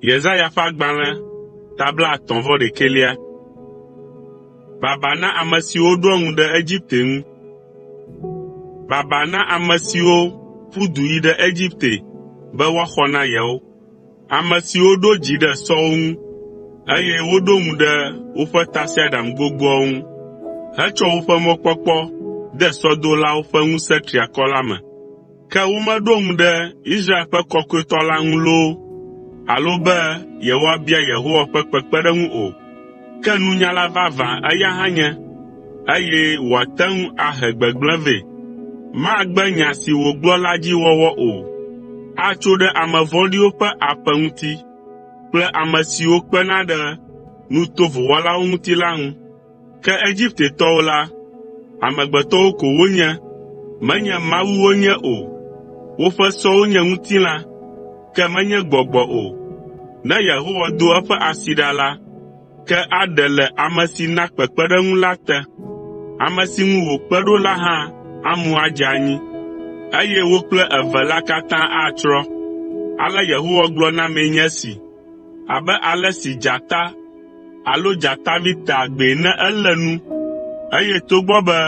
Yesaya ƒe agbalẽ ta blaetɔ̃ vɔ ɖekɛlia. Baba na ame siwo ɖoa ŋu ɖe Egipte ŋu. Baba na ame siwo ƒu du yi ɖe Egipte be woaxɔ na yewo, ame siwo ɖo dzi ɖe sɔwo ŋu, eye woɖo ŋu ɖe woƒe tasiaɖam gbogboawo ŋu hetsɔ woƒe mɔkpɔkpɔ de sɔdolawo ƒe ŋusẽ triakɔ la me. Ke womeɖo ŋu ɖe Israel ƒe Kɔkɔetɔ la ŋu loo alo be yewoabia Yehowa ƒe kpekpeɖeŋu o. Ke nunyala vavã eya hã nye, eye wòate ŋu ahe gbegblẽ vɛ. Magbe nya si wògblɔ la dzi wɔwɔ o. Atso ɖe ame vɔ̃ɖiwo ƒe aƒe ŋuti kple ame siwo kpena ɖe nu tovo wɔlawo ŋuti la ŋu. Ke Egiptetɔwo la, amegbetɔwo ko wonye, menye mawu wonye o. Woƒe sɔwo nye ŋutilã, ke menye gbɔgbɔ o. Ne Yehowa do eƒe asi ɖa la, ke aɖe le ame si na kpekpeɖeŋu la te. Ame si ŋu wòkpe ɖo la hã amu adze anyi, eye wo kple eve la katã atsrɔ̃. Ale Yehowa gblɔ na mee nye esi. Abe ale si dzata alo dzatavi tea gbee ne elé nu, eye togbɔ be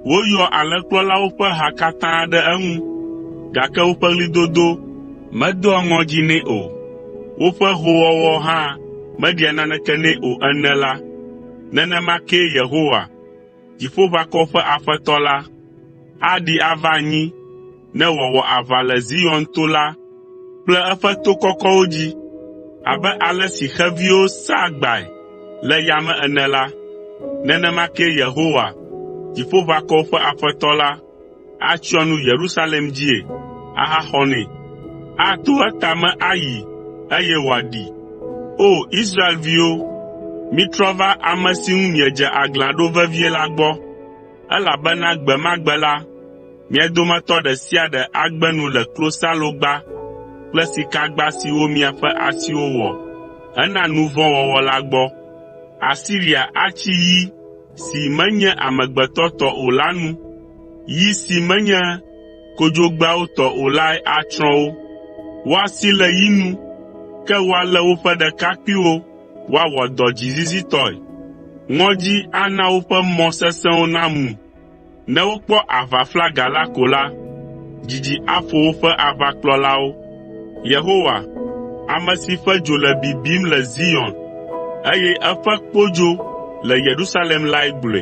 woyɔa alẽkplɔlawo ƒe ha katã ɖe eŋu, gake woƒe ɣlidodo medoa ŋɔdzi nɛ o, woƒe hoowɔwɔ hã meɖia naneke nɛ o ene la, nenema kee Yehowa, Dziƒoʋakɔwo ƒe Aƒetɔ la, aɖi ava anyi ne wòawɔ aʋa le Zion to la kple eƒe to kɔkɔwo dzi. Abe ale si xeviwo saa agbae le yame ene la, nenema kee Yehowa, Dziƒoʋakɔwo ƒe Aƒetɔ la, atsyɔ nu Yerusalem dzie ahaxɔ nɛ. Ato etame ayi, eye wòaɖii. O! Israelviwo, mitrɔ va ame si ŋu miedze aglã ɖo vevie la gbɔ, elabena gbe ma gbe la, mia dometɔ ɖe sia ɖe agbe nu le klosalogba kple sikagba siwo miaƒe asiwo wɔ hena nu vɔ̃ wɔwɔ la gbɔ. Asiria atsi yi, si menye amegbetɔ tɔ o la nu. Yi si menye kodzogbeawo tɔ o lae atsrɔ̃ wo. Woasi le yi nu, ke woalé woƒe ɖekakpuiwo woawɔ dɔ dzizizitɔe. Ŋɔdzi ana woƒe mɔ sesẽwo namu. Ne wokpɔ aʋaflaga la ko la, dzidzi aƒo woƒe aʋakplɔlawo. Yehowa, ame si ƒe dzo le bibim le Zion, eye eƒe kpodzo le Yerusalem lae gblɔe.